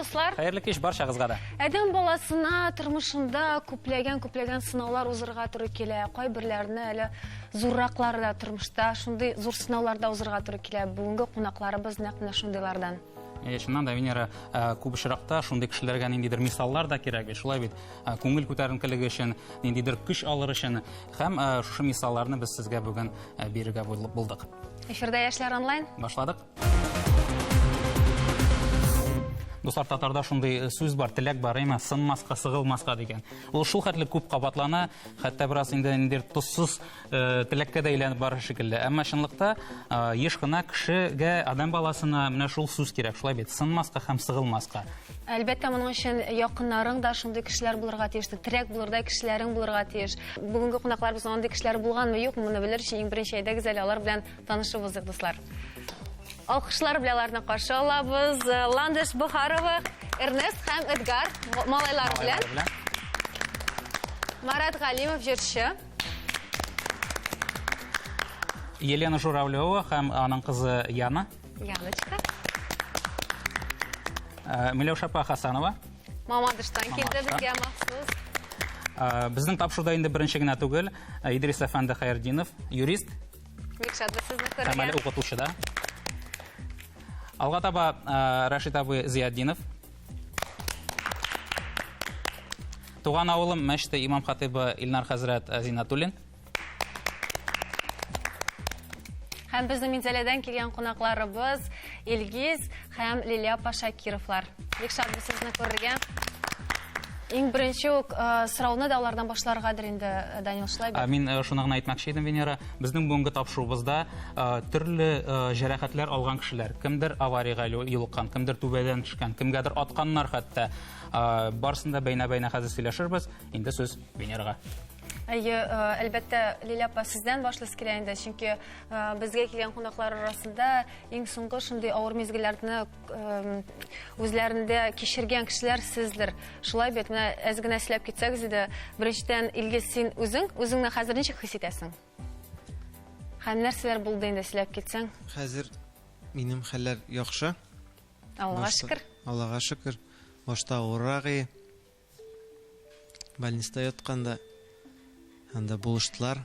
дуслар. Хәерле кич баршагызга да. Адәм баласына тормышында күпләгән күпләгән сынаулар узырга туры килә. Кайберләренә әле зурраклары да тормышта шундый зур сынауларда узырга туры килә. Бүгенге кунакларыбыз нәкъ менә шундыйлардан. Әйе, чыннан да, Венера, э, күп очракта шундый кешеләргә ниндидер мисаллар да кирәк бит, шулай бит. Э, күңел күтәренкелеге өчен, ниндидер көч алыр өчен һәм э, шушы мисалларны без сезгә бүген бирергә булдык. Эфирдә яшьләр онлайн. Башладык. Дуслар, татарда шундый сүз бар, теләк бар, әмма сынмаска, сыгылмаска дигән. Ул шул хәтле күп кабатлана, хәтта бераз инде ниндидер тозсыз Э, теләккә дә әйләнеп барыр шикелле әмма чынлыкта э, еш кына кешегә адам баласына менә шул сүз кирәк шулай бит сынмаска һәм сыгылмаска әлбәттә моның өчен якыннарың да шундый кешеләр булырга тиеш терәк булырдай кешеләрең булырга тиеш бүгенге кунакларыбыз андый кешеләр булганмы юкмы моны белер өчен иң беренче әйдәгез әле алар белән танышып узыйк дуслар алкышлар белән аларны каршы алабыз э, ландыш бухарова эрнест һәм эдгар малайлар белән марат галимов җырчы Елена Журавлева һәм аның кызы Яна. Яночка. Э, Миләүшә апа Хасанова. Мамадыштан килде безгә махсус. Э, Безнең тапшыруда инде беренче генә түгел. Э, Идрис әфәнде Хәйердинов, юрист Бик шатбыз сезне һәм әле күрергә. укытучы да. Алга таба э, Рәшит абый Зиятдинов. Туган авылым мәчте имам хатыбы Илнар хәзрәт Зинатуллин. Һәм безнең Минзәләдән килгән кунакларыбыз Илгиз һәм Лилия апа Шакировлар. Бик шатбыз сезне күрергә. Иң беренче үк э, сорауны да алардан башларгадыр инде э, Данил шулай бит? Мин э, шуны гына әйтмәкче идем, Венера. Безнең бүгенге тапшыруыбызда төрле җәрәхәтләр алган кешеләр, кемдер авариягә юлыккан, кемдер түбәдән төшкән, кемгәдер атканнар хәтта. Барысын да бәйнә-бәйнә хәзер сөйләшербез. Инде сүз Венерага. Әйе, әлбәттә, Лилия апа, сездән башлыйсы килә инде, чөнки безгә килгән кунаклар арасында иң соңгы шундый авыр мизгелләрне үзләрендә кичергән кешеләр сездер. Шулай бит, менә әз генә сөйләп китсәгез иде, беренчедән, Илгиз, син үзең, үзеңне хәзер ничек хис итәсең? Һәм нәрсәләр булды инде сөйләп китсәң? Хәзер минем хәлләр яхшы. Аллага шөкер. Аллага шөкер. Башта урагы больниста ятканда анда булыштылар.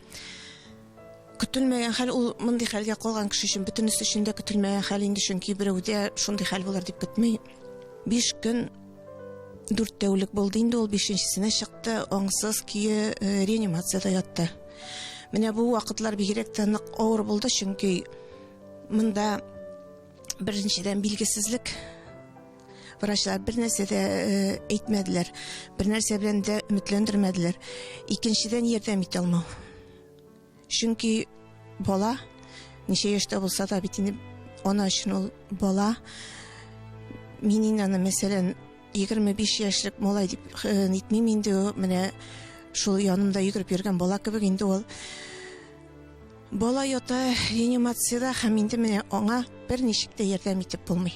Көтелмәгән хәл ул мондый хәлгә калган кеше өчен бөтенесе өчен дә көтелмәгән хәл инде, чөнки берәүдә шундый хәл булыр дип көтми. Биш көн дүрт тәүлек булды инде ул бишенчесенә чыкты, аңсыз көе э, реанимациядә ятты. Менә бу вакытлар бигрәк тә нык авыр булды, чөнки монда беренчедән билгесезлек Врачлар бер нәрсә дә әйтмәделәр. Бер нәрсә белән дә өметләндермәделәр. Икенчедән ярдәм итә алмау. Чөнки бала ничә яшьтә булса да бит инде ана өчен ул бала. Мин инде аны мәсәлән 25 яшьлек малай дип нитмим инде менә шул янымда йөгереп йөргән бала кебек инде ул бала ята реанимациядә һәм инде менә аңа бер ничек тә ярдәм итеп булмый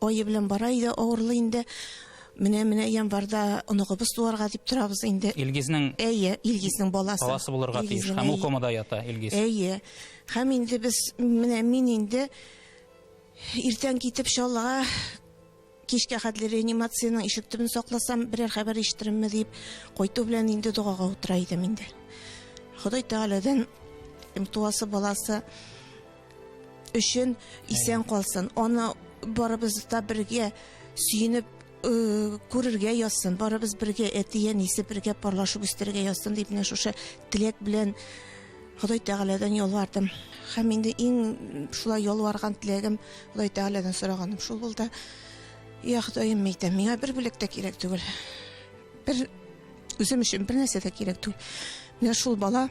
Ае белән бара иде, авырлы инде. Менә менә январда оныгыбыз туарга дип торабыз инде. Илгизнең Әйе, Илгизнең баласы. Баласы булырга тиеш. Һәм ул комада ята Илгиз. Әйе. Һәм инде без менә мин инде иртән китеп Чаллыга кичкә хәтле реанимациянең ишек төбен сакласам, берәр хәбәр ишетеремме дип, кайту белән инде догага утыра идем инде. Ходай Тәгаләдән туасы баласы өчен исән калсын. Аны барыбыз да бергә сөенеп э, күрергә язсын. Барыбыз бергә әтиен әнисе бергә парлашып үстерергә язсын дип менә шушы теләк белән Ходай Тәгаләдән ялвардым. Һәм инде иң шулай ялварган теләгем Ходай Тәгаләдән сораганым шул булды. Я Ходаем әйтәм, миңа бер бүләк тә кирәк түгел. Бер үзем өчен бер нәрсә дә кирәк түгел. Менә шул бала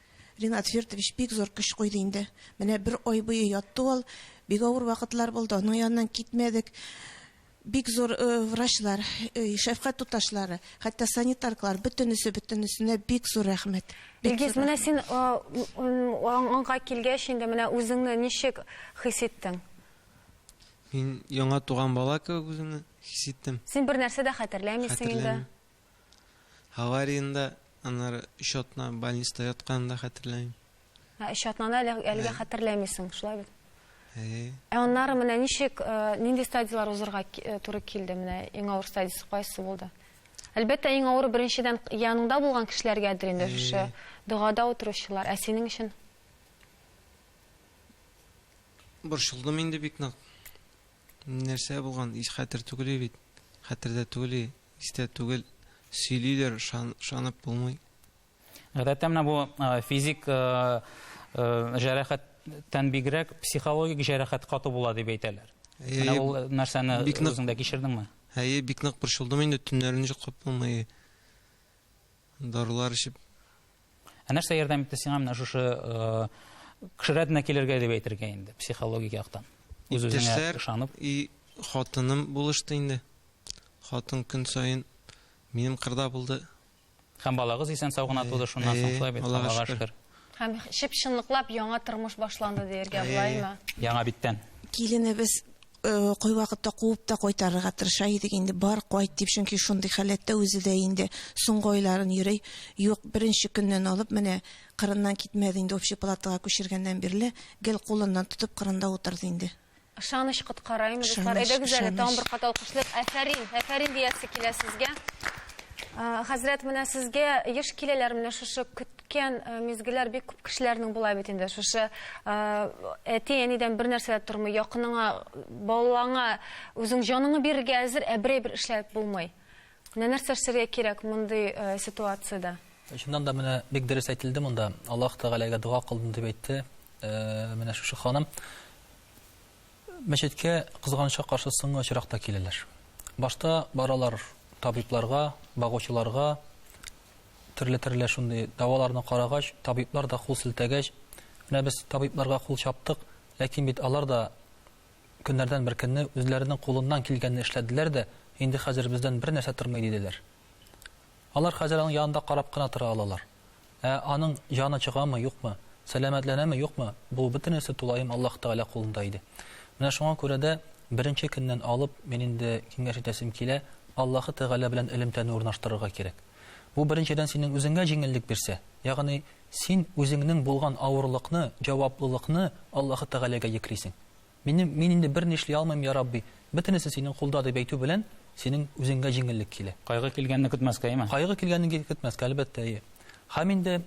Ринат Фирдович бик зур көч куйды инде. Менә бер ай буе ятты ул. Бик авыр вакытлар булды, аның яныннан китмәдек. Бик зур врачлар, шәфкать туташлары, хәтта санитаркалар, бөтенесе, бөтенесенә бик зур рәхмәт. Илгиз, менә син аңа килгәч инде, менә үзеңне ничек хис иттең? Мин яңа туган бала кебек үземне хис иттем. Син бернәрсә дә хәтерләмисең инде. Хәтерләмим. Авариядә аннары өч атна больниста ятканын да хәтерләмим. Ә өч атнаны әле, әлегә Ә. хәтерләмисең, шулай бит? Әйе. Ә аннары менә ничек, э, нинди стадияләр узырга ки- э, туры килде? Менә иң авыр стадиясе кайсы булды? Әлбәттә, иң авыры беренчедән яныңда булган кешеләргәдер инде Әйе. шушы догада утыручылар. Ә синең өчен? Борчылдым инде бик нык. Нәрсә булган ич хәтер түгели бит хәтердә түгели истә түгел сөйлиләр ышанып булмый. Гадәттә менә бу физик җәрәхәттән бигрәк психологик җәрәхәт каты була дип әйтәләр. Менә ул нәрсәне үзеңдә кичердеңме? Әйе, бик нык борчылдым инде, төннәрен йоклап булмый. Дарулар эчеп. Ә нәрсә ярдәм итте сиңа менә шушы кеше рәтенә килергә дип әйтергә инде, психологик яктан? Үз-үзеңә ышанып. И хатыным булышты инде. Хатын көн саен минем кырда булды. Һәм балагыз исән сау гына туды шуннан соң, шулай бит? Аллага шөкер. Һәм чып-чынлыклап яңа тормыш башланды диергә булаймы? Яңа биттән. Киленебез кайвакытта куып та кайтарырга тырыша идек инде, бар, кайт дип, чөнки шундый халәттә үзе дә инде, соңгы айларын йөри. Юк, беренче көннән алып, менә кырыннан китмәде инде, общий палатага күчергәннән бирле, гел кулыннан тотып кырында утырды инде. Ышаныч коткараймы, дуслар? Әйдәгез әле, тагын бер кат алкышлыйк. Әфәрин, әфәрин диясе килә сезгә. Хәзрәт, менә сезгә еш киләләр менә шушы Үткән мизгелләр бик күп кешеләрнең була бит инде. Шушы әти-әнидән бер нәрсә дә тормый, якыныңа, балаңа үзең җаныңны бирергә әзер, ә берәй бер эшләп булмый. Менә нәрсә эшләргә кирәк мондый ситуациядә? Чыннан да менә бик дөрес әйтелде монда. Аллаһ Тәгаләгә дога кылдым дип әйтте. Менә шушы ханым мәчеткә кызганычка каршы соңгы очракта киләләр. Башта баралар табибларга, багучыларга, Төрле-төрле шундый даваларны карагач, табиблар да кул селтәгәч, менә без табибларга кул чаптык, ләкин бит алар да көннәрдән бер көнне үзләренең кулыннан килгәнне эшләделәр дә, инде хәзер бездән бер нәрсә тормый диделәр. Алар хәзер аның янында карап кына тора алалар. Ә аның җаны чыгамы, юкмы, сәламәтләнәме, юкмы, бу бөтенесе тулаем Аллаһ Тәгалә кулында иде. Менә шуңа күрә дә беренче көннән алып мин инде киңәш итәсем килә, Аллаһы Тәгалә белән элемтәне урнаштырырга кирәк. Бу беренчедән синең үзеңә җиңеллек бирсә, ягъни син үзеңнең булган авырлыкны, җаваплылыкны Аллаһы Тәгаләгә йөклисең. Минем, мин инде берни эшли алмыйм, я Рабби, бөтенесе синең кулда дип әйтү белән синең үзеңә җиңеллек килә. Кайгы килгәнне көтмәскә, яме? Кайгы килгәнне көтмәскә, әлбәттә, әйе. Һәм инде,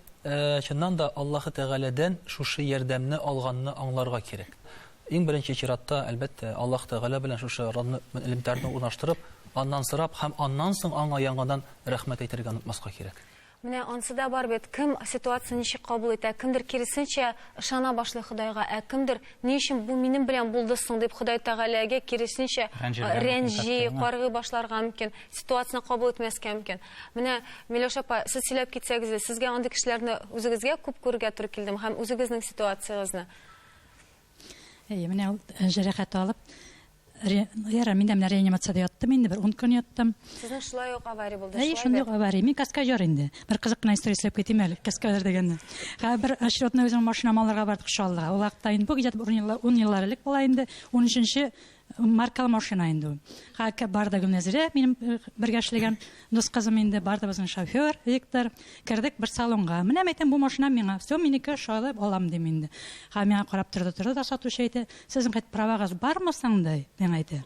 чыннан да, Аллаһы Тәгаләдән шушы ярдәмне алганны аңларга кирәк. Иң беренче чиратта, әлбәттә, Аллаһ Тәгалә белән шушы элемтәрне урнаштырып, Аннан сорап һәм аннан соң Аңа яңадан рәхмәт әйтергә онытмаска кирәк. Менә ансы да бар бит, кем ситуацияне ничек кабул итә, кемдер киресенчә ышана башлый Ходайга, ә кемдер, Ни өчен бу минем белән булды соң? дип Ходай Тәгаләгә киресенчә рәнҗи, каргый башларга мөмкин, ситуацияне кабул итмәскә мөмкин. Менә, Миләүшә апа, сез сөйләп китсәгез иде, сезгә андый кешеләрне үзегезгә күп күрергә туры килдеме һәм үзегезнең ситуациягезне? Әйе, менә ул э, җәрәхәт алып, яра, мин дә менә реанимацияда яттым инде, бер 10 көн яттым. Сезнең шулай ук авария булды, шулай Әйе, шундый авария. Мин каскадер инде. Бер кызык кына история сөйләп китим әле, каскадер дигәнне. Ха, бер очередной үзем машина алырга бардык Шаллыга. Ул вакытта инде бу где-то 10 еллар элек була инде, 13-нче Маркалы машина инде ул. Хакка бар да Гөлнәзирә, минем э, бергә эшләгән дус кызым инде, бар да безнең шофер Виктор. Кердек бер салонга. Менә әйтәм, бу машина миңа. Все, минеке шайлап алам дим инде. Ха миңа карап торды, торды да сатучы әйтә, сезнең хәт правагыз бармы соң ди, миңа әйтә.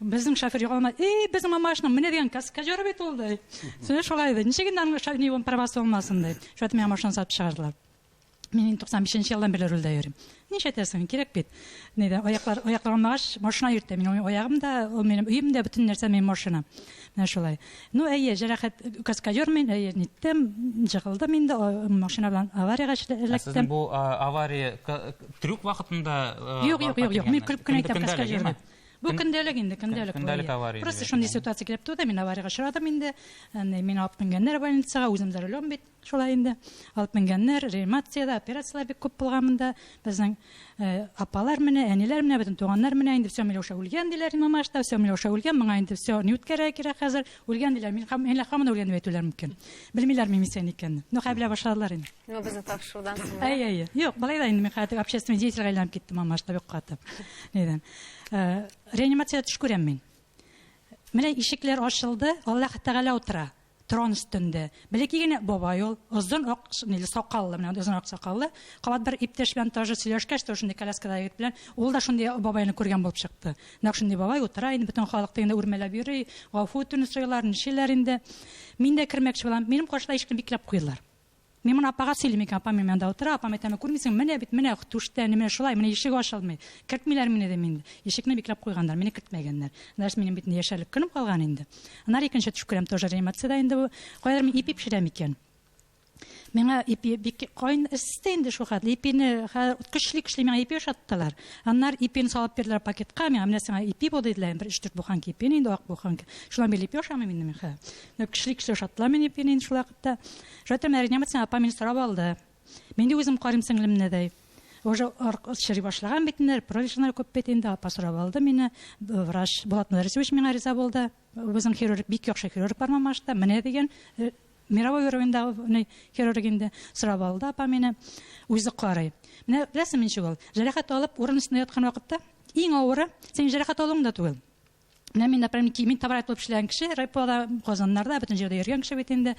Безнең шофер югалма, эй, безнең мамашның менә дигән каскадер бит ул ди. Сәне шулай ди. Ничек инде аның шофер правасы булмасын ди. Шулай миңа машина сатып чыгардылар. Мин инде 95 нче елдан бирле рульдә йөрим. Ничә тәсен кирәк бит. Ни дә аяклар аяклар алмагач машина йөртә. Мин аягым да, ул минем өем дә бөтен нәрсә минем машина. Менә шулай. Ну әйе, җәрәхәт каскадер мин, әйе, ниттем, җыгылдым инде машина белән авариягә эләктем. Сезнең бу авария трюк вакытында Юк, юк, юк, юк. Мин күп кенә әйтәм каскадер. Бу көндәлек инде, көндәлек. Көндәлек авария. Просто шундый ситуация килеп туды, мин авариягә очрадым инде. Мин алып менгәннәр больницага, үзем дә рулем бит. Шулай инде. Алып менгәннәр, реанимациядә, операцияләр бик күп булган монда. Безнең апалар менә, әниләр менә, бөтен туганнар менә инде всё, Миләүшә үлгән диләр Имамашта, всё, Миләүшә үлгән, моңа инде всё, ни үткәрергә кирәк хәзер, үлгән диләр. Мин һәм әллә һаман үлгән дип әйтүләре мөмкин. Белмиләрме мисән икәнне. Ну, хәерләп башладылар инде. Ну, безне тапшырудан соң. Әйе, әйе. Юк, болай да инде мин хәзер общественный деятельгә әйләнеп киттем Имамашта бик каты. Нидән. Реанимациядә төш күрәм мин. Менә ишекләр ачылды, Аллаһ Тәгалә утыра. Трон өстендә. Бәләкәй генә бабай ул, озын ак ниле сакаллы, менә андый озын ак сакаллы. Кабат бер иптәш белән таҗы сөйләшкәч тә, ул шундый коляскадагы егет белән, ул да шундый бабайны күргән булып чыкты. Нәкъ шундый бабай утыра инде, бөтен халык тегендә үрмәләп йөри, гафу үтүне сорыйлар, нишлиләр инде. Мин дә кермәкче булам. Минем каршыда ишекне бикләп куйдылар. Мин моны апага сөйлим икән, апам минем янда утыра, апам әйтәме, күрмисең, менә бит, менә түштә, әни, менә шулай, менә ишек ачылмый, кертмиләр мине, дим инде. Ишекне бикләп куйганнар, мине кертмәгәннәр. Значит, минем бит инде яшәрлек көнем калган инде. Аннары икенче төш күрәм, тоже реанимациядә инде бу. Каядыр мин ипи пешерәм икән. Миңа ипи бик кайын эсте инде шул хәтле. Ипине хәзер көчле-көчле миңа ипи ашаттылар. Аннары ипине салып бирделәр пакетка, миңа менә сиңа ипи бу диделәр, бер 3-4 буханка ипи инде, ак буханка. Шулай бил ипи ашамыйм инде мин хәзер. Менә көчле-көчле ашаттылар мине ипине инде шулай. Та, Жатыр Мәринәмәтсен апа мине сорап алды. Мин дә үзем карыйм сеңлемне дәй. Уже чыри башлаган бит инде, профессиональ күп бит инде, апа сорап алды мине. Врач Булат Мөдәрисович миңа риза булды. Үзем хирург, бик яхшы хирург бар Мамашта. Менә дигән э, мировой уровеньдагы хирург инде сорап алды апа мине. Үзе карый. Менә беләсеңме ничек ул? Җәрәхәт алып, урын өстенә яткан вакытта иң авыры синең җәрәхәт алуың да түгел. Менә мин, например, мин табрат булып эшләгән кеше, райпода, Казаннарда, бөтен җирдә йөргән кеше бит инде.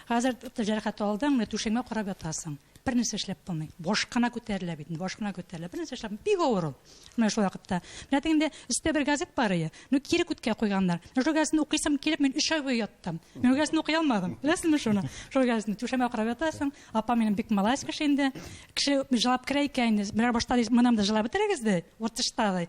Хәзер җәрәхәт алдың, менә түшәңгә карап ятасың. Бер нәрсә эшләп булмый. Баш кына күтәрелә бит, баш кына күтәрелә. Бер нәрсә эшләп бик авыр ул. Менә шул вакытта. Менә тегендә өстә бер газет бар иде. Ну кире күткә куйганнар. Менә шул газетны укыйсым килеп, мин 3 ай буе яттым. Мин газетны укый алмадым. Беләсезме шуны? Шул газетны түшәмә карап ятасың. Апа минем бик малайс кеше инде. Кеше җылап керә икән инде. Менә башта мынам да җылап бетерегез ди. Уртышта ди.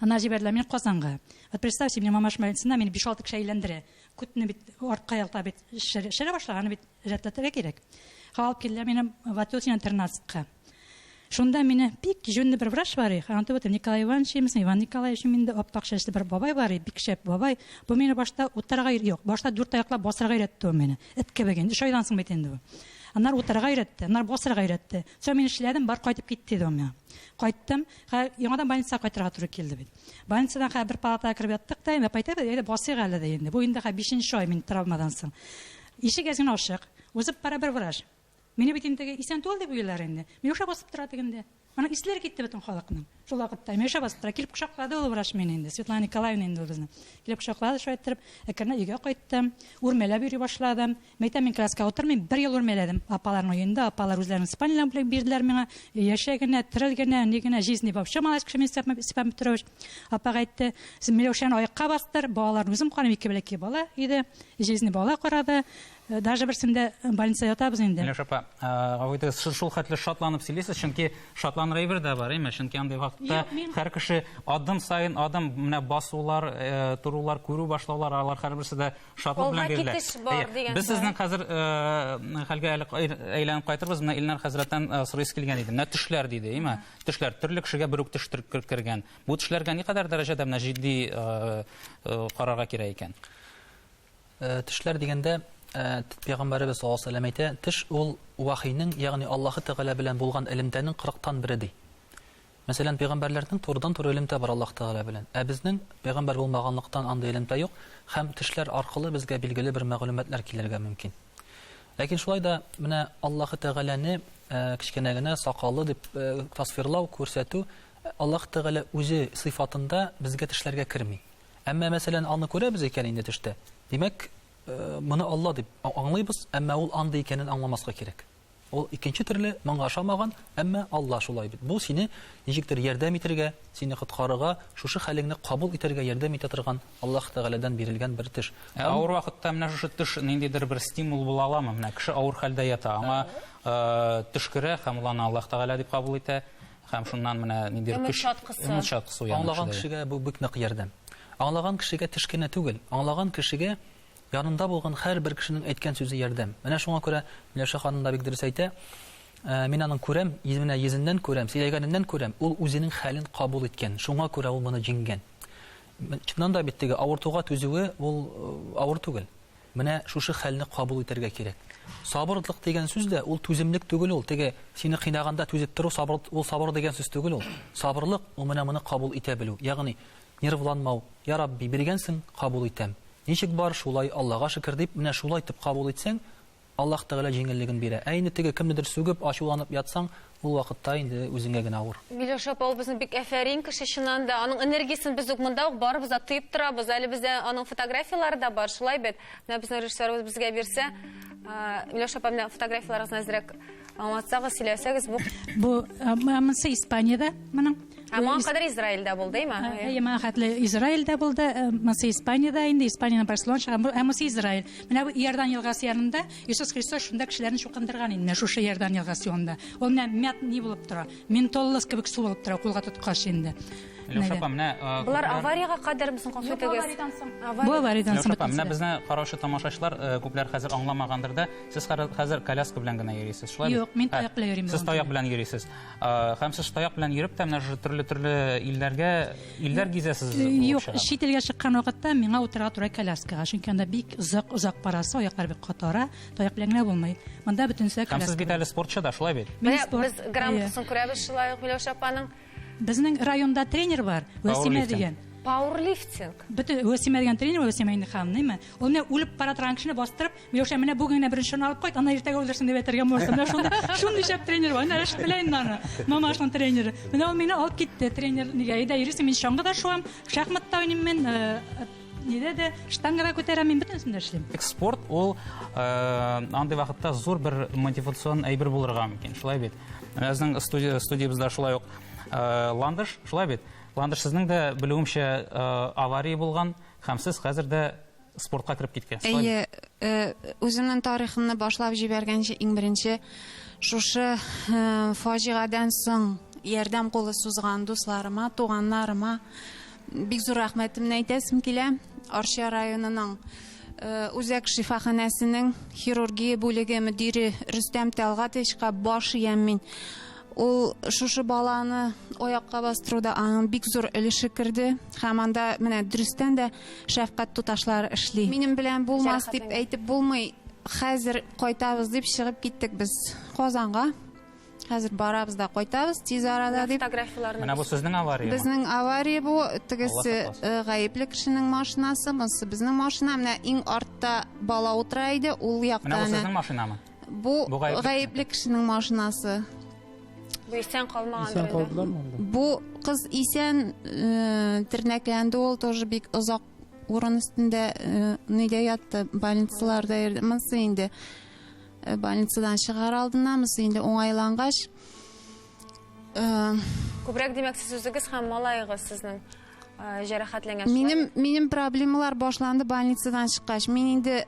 Ана җибәрделәр мине Казанга. Вот представьте, мне мама шмалинцина, мине 5-6 кеше әйләндерә. Күтне бит артка ялта бит шәрә башлар, аны бит рәтләтергә кирәк. Ха алып килделәр мине Ватутина 13-ка. Шунда мине бик җүнле бер врач бар, ханты вот Николай Иванович, имсен Иван Николаевич, миндә аппак чәчле бер бабай бар, бик шәп бабай. Бу мине башта утырга юк, башта дүрт аяклап басырга өйрәтте ул мине. Эт кебек инде, 3 айдан соң бит инде бу. Аннар утырга өйрәтте, аннар басырга өйрәтте. Соң мин эшләдем, бар кайтып кит, диде ул миңа. Кайттым. Хә, яңадан больницага кайтырга туры килде бит. Больницадан хә бер палатага кереп яттык та, инде кайтыйк, әйдә басыйк әле дә инде. Бу инде хә бишенче ай мин травмадан соң. Ишек әз генә ачык. Узып бара бер врач. Мине бит инде исән түгел дип уйлар инде. Миләүшә басып тора тегендә. Аның исләре китте бөтен халыкның. Шул вакытта Миләүшә басып тора. Килеп кочаклады ул врач мине инде. Светлана Николаевна инде ул безнең. Килеп кочаклады шулай иттереп. Әкренләп өйгә кайттым. Үрмәләп йөри башладым. Мәйтәм, мин коляскага утырмыйм, бер ел үрмәләдем. Апаларның өендә, апалар үзләренең спальняларын бүләк бирделәр миңа. Яшә генә, терел генә, ни генә, жизни вообще малач кеше мин Степан, Степан Петрович. Апа әйтте, син Миләүшәне аякка бастыр, балаларны үзем карыйм, ике бәләкәй бала иде. Жизни бала карады. Даже берсендә больница ятабыз инде. Миләүшә апа, гафу итегез, сез шул хәтле шатланып сөйлисез, чөнки шатланыр әйбер дә бар, әйме? Чөнки андый вакытта һәр кеше адым саен адым, менә басулар, торулар, күрү башлаулар, алар һәрберсе дә Шатлык белән бирелә. Алга китеш бар дигән. Без сезнең хәзер э, хәлгә әле әйләнеп кайтырбыз. Менә Илнар хәзрәттән э, сорыйсы килгән иде. Менә төшләр диде, әйме? Төшләр төрле кешегә бер үк төш кергән. Бу төшләргә никадәр дәрәҗәдә менә җитди э, карарга кирәк икән? Төшләр дигәндә пәйгамбәребез саллаллаху алейһи ва сәлләм әйтә, төш ул вахийның, ягъни Аллаһы Тәгалә белән булган элемтәнең 40 тан бере ди. Мәсәлән, пәйгамбәрләрнең турыдан-туры элемтә бар Аллаһ Тәгалә белән. Ә безнең, пәйгамбәр булмаганлыктан, андый элемтә юк һәм тешләр аркылы безгә билгеле бер мәгълүматлар килергә мөмкин. Ләкин шулай да менә Аллаһы Тәгаләне кечкенә генә сакаллы дип тасвирлау, күрсәтү Аллаһ Тәгалә үзе сыйфатында безгә тешләргә керми. Әмма, мәсәлән, аны күрәбез икән инде төштә, димәк, моны Алла дип аңлыйбыз, әмма ул андый икәнен аңламаска кирәк. Ул икенче төрле моңа ошамаган, әмма Алла шулай бит. Бу сине ничектер ярдәм итергә, сине коткарырга, шушы хәлеңне кабул итәргә ярдәм итә торган Аллаһ Тәгаләдән бирелгән бер төш. Ә авыр вакытта менә шушы төш ниндидер бер стимул була аламы? Менә кеше авыр хәлдә ята, аңа э, төш керә һәм ул аны Аллаһ Тәгалә дип кабул итә һәм шуннан менә ниндидер Өмет чаткысы. Өмет чаткысы уяна. Аңлаган кешегә бу бик нык ярдәм. Аңлаган кешегә төш кенә түгел, аңлаган кешегә Янында булган һәрбер кешенең әйткән сүзе ярдәм. Менә шуңа күрә Миләүшә ханым да бик дөрес әйтә. Мин аның күрәм, менә йөзеннән күрәм, сөйләгәненнән күрәм, ул үзенең хәлен кабул иткән, шуңа күрә ул моны җиңгән. Чыннан да бит теге авыртуга түзүе ул авыр түгел. Менә шушы хәлне кабул итәргә кирәк. Сабырлык дигән сүз дә ул түземлек түгел ул, теге сине кыйнаганда түзеп тору сабыр, ул сабыр дигән сүз түгел ул. Сабырлык ул менә моны кабул итә белү. Ягъни Нервланмау, Я Рабби, биргәнсең, кабул итәм. Ничек бар, шулай, Аллага шөкер, дип, менә шулай итеп кабул итсәң, Аллаһ Тәгалә җиңеллеген бирә. Ә инде теге кемнедер сүгеп, ачуланып ятсаң, ул вакытта инде үзеңә генә авыр. Миләүшә апабызны бик әфәрин кеше чыннан да. Аның энергиясен без үк монда ук барыбыз да тоеп торабыз. Әле бездә аның фотографияләре дә бар, шулай бит? Менә безнең режиссерыбыз безгә бирсә. Миләүшә апа, менә фотографияләрегезне әзрәк аңлатсагыз, сөйләсәгез бу. Бу монысы Испаниядә моның. Ә моңа кадәр Израильдә булды, әйме? Әйе, моңа хәтле Израильдә булды, э, монысы Испаниядә инде, Испаниянең Барселона шәһәре, ә монысы Израиль. Менә бу Иордан елгасы янында Иисус Христос шунда кешеләрне чукындырган инде, шушы Иордан елгасы янында. Ул менә мят ни булып тора, ментоллос кебек су булып тора, кулга тоткач инде. Леша апа, менә... Э, Булар аварияга кадәр мисың калса тегез? Авариядан соң. Бу авариядан соң. Леша апа, менә безне караучы тамашачылар э, күпләр хәзер аңламагандыр да, сез хәзер коляска белән генә йөрисез, шулай? Юк, мин таяк белән йөрим. Сез таяк белән йөрисез. Э, һәм сез таяк белән йөреп тә менә шушы төрле төрле илләргә илләр гизәсез э, юк чит илгә чыккан вакытта миңа утырырга туры коляскага чөнки анда бик озак озак барасы аяклар бик катара таяк белән генә булмый монда бөтенесе һәм сез бит әле спортчы да шулай бит без грамотасын күрәбез шулай ук миләүшә апаның безнең районда тренер бар вәсимә дигән пауэрлифтинг бөтен вәсимә дигән тренер вәсимә инде ханымнымы ул менә үлеп бара торган кешене бастырып Миләүшә, менә бүген генә беренчене алып кайт, аны иртәгә үлдерсен дип әйтергә булырсың. Менә шундый, шундый шәп тренер бар. Менә Рәшит белә инде аны. Мамашның тренеры. Менә ул мине алып китте тренер. Нигә? Әйдә, йөрисең, мин чаңгы да шуам, шахмат та уйныйм мин, э, нидә дә, штангада күтәрәм, мин бөтенесен дә эшлим. Спорт ул э, андый вакытта зур бер мотивацион әйбер булырга мөмкин, шулай бит. Менә безнең студия, студиябездә шулай ук э, Ландыш, шулай бит. Ландыш, сезнең дә белүемчә э, авария булган, һәм сез хәзер дә спортка кереп киткән. Әйе, э, үземнең тарихымны башлап җибәргәнче иң беренче шушы э, фаҗигадан соң ярдәм кулы сузган дусларыма, туганнарыма бик зур рәхмәтемне әйтәсем килә. Арча районының э, үзәк шифаханәсенең хирургия бүлеге мөдире Рөстәм Тәлгатовичка баш иям мин. Ул шушы баланы оякка бастыруда аның бик зур өлеше керде. Һәм анда менә дөрестән дә шәфкать туташлары эшли. Минем белән булмас дип әйтеп булмый. Хәзер кайтабыз дип чыгып киттек без Казанга. Хәзер барабыз да кайтабыз тиз арада дип. Фотографияләрне. Менә бу сезнең авария. Безнең авария бу, тегесе э, гаепле кешенең машинасы, монысы безнең машина. Менә иң артта бала утыра иде, ул якта. Менә бу сезнең машинамы? Бу гаепле кешенең машинасы. Бу исән калмаган. Исән калдылар монда. Бу кыз исән э, тернәкләнде ул тоже бик озак урын өстендә э, нидә ятты, больницаларда йөрде. Монсы инде э, больницадан чыгар алдына, монсы инде уңайлангач, Э, Күбрәк димәк сез үзегез һәм малаегыз сезнең э, җәрәхәтләнгән. Минем минем проблемалар башланды больницадан чыккач. Мин инде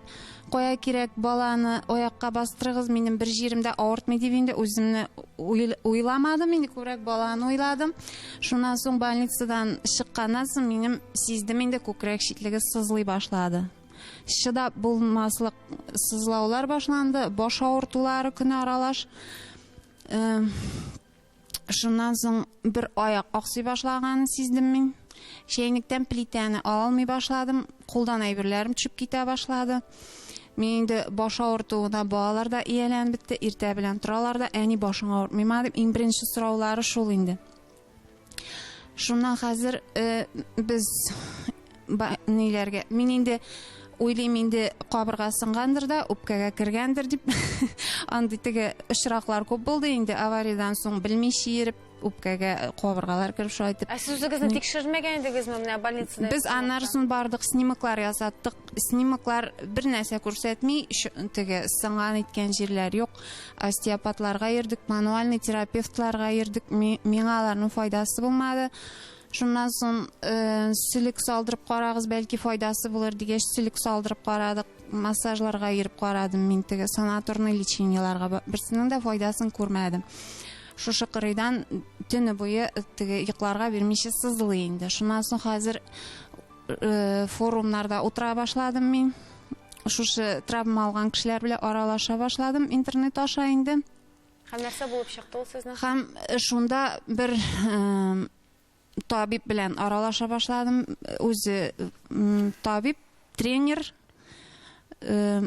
кая кирәк баланы аякка бастырыгыз, минем бер җиремдә авыртмый дип инде үземне уйламадым, инде күбрәк баланы уйладым. Шуннан соң больницадан чыкканнан соң минем сиздем инде күкрәк читлеге сызлый башлады. Чыдап булмаслык сызлаулар башланды, баш авыртулары көне аралаш. Шуннан соң бер аяк аксый башлаганын сиздем мин. Чәйнектән плитәне алмый башладым. Кулдан әйберләрем төшеп китә башлады. Мин инде баш авыртуына балалар да ияләнеп бетте. Иртә белән торалар да, әни башың авыртмыйма дип, иң беренче сораулары шул инде. Шуннан хәзер э, без ба, ниләргә? Мин инде уйлыйм инде кабырга сынгандыр да, үпкәгә кергәндер дип. Андый теге очраклар күп булды инде авариядән соң белми чиереп үпкәгә кабыргалар кереп шулай итеп. Ә сез үзегезне тикшермәгән идегезме менә больницада? Без аннарысын бардык, снимоклар ясаттык. Снимоклар бер нәрсә күрсәтми, теге сынган иткән җирләр юк. Остеопатларга йөрдек, мануальный терапевтларга йөрдек. Миңа аларның файдасы булмады. Шуннан соң э, сүлек салдырып карагыз, бәлки файдасы булыр дигәч, сүлек салдырып карадык. Массажларга йөреп карадым мин теге санаторный лечениеләргә. Берсенең дә файдасын күрмәдем. Шушы кырыйдан төне буе э, теге йокларга бирмичә сызлый инде. Шуннан соң хәзер форумнарда утыра башладым мин шушы травма алган кешеләр белән аралаша башладым интернет аша инде һәм нәрсә булып чыкты ул сезнең һәм э, шунда бер э, табиб белән аралаша башладым үзе табиб тренер Э,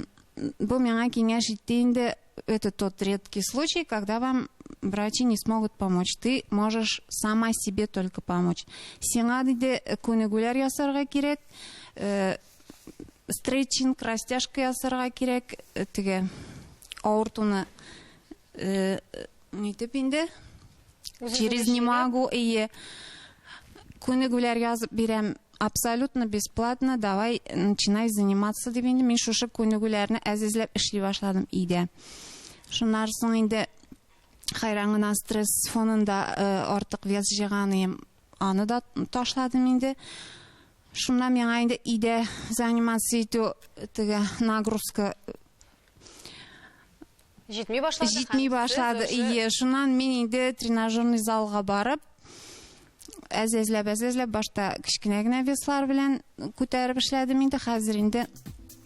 бу миңа киңәш итте инде это тот редкий случай, когда вам врачи не смогут помочь. Ты можешь сама себе только помочь. Сиңа диде э, күнегүләр ясарга кирәк, э, стретчинг, растяжка ясарга кирәк, э, теге авыртуны Э, нитеп инде через не могу ие күнегүләр язып бирәм абсолютно бесплатно давай начинай заниматься дип инде мин шушы күнегүләрне әзизләп эшли башладым өйдә шуннан соң инде хайран гына стресс фонында э, артык вес җыйганым аны да ташладым инде шуннан миңа инде өйдә заниматься итү теге нагрузка Җитми башлады. Җитми башлады. Ие, шуннан мин инде тренажерный залга барып, әзәзләп, әзәзләп башта кечкенә генә веслар белән күтәреп эшләдем инде. Хәзер инде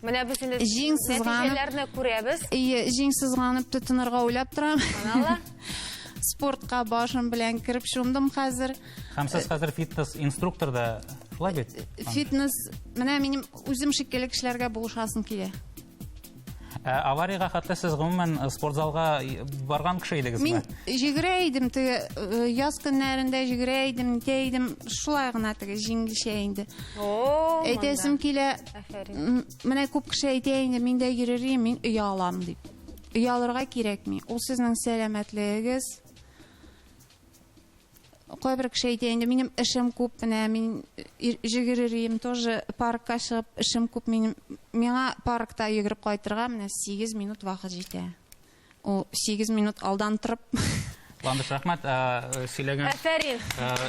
Менә без инде җиң сызганып күрәбез. Ие, җиң сызганып тотынырга уйлап торам. Аналла. Спортка башым белән кереп шундым хәзер. Һәм сез хәзер фитнес инструктор да шулай бит? Фитнес, менә минем үзем шикелле кешеләргә булышасым килә. Ә аварияга хәтле сез гомумән э, спорт залга э, барган кеше идегезме? Мин җигрә идем, теге э, яз көннәрендә җигрә идем, нитә идем, шулай гына теге җиңелчә инде. О, Әйтәсем килә, Афәрин. менә күп кеше әйтә инде, мин дә йөрер идем, мин өя алам дип. Өя алырга кирәкми. Ул сезнең сәламәтлегегез, Кайбер кеше әйтә инде, минем эшем күп, менә мин җигер йөрим, тоже паркка чыгып эшем күп, минем миңа паркта йөгереп кайтырга менә 8 минут вакыт җитә. Ул 8 минут алдан торып Ландыш рәхмәт сөйләгән. Әфәрин.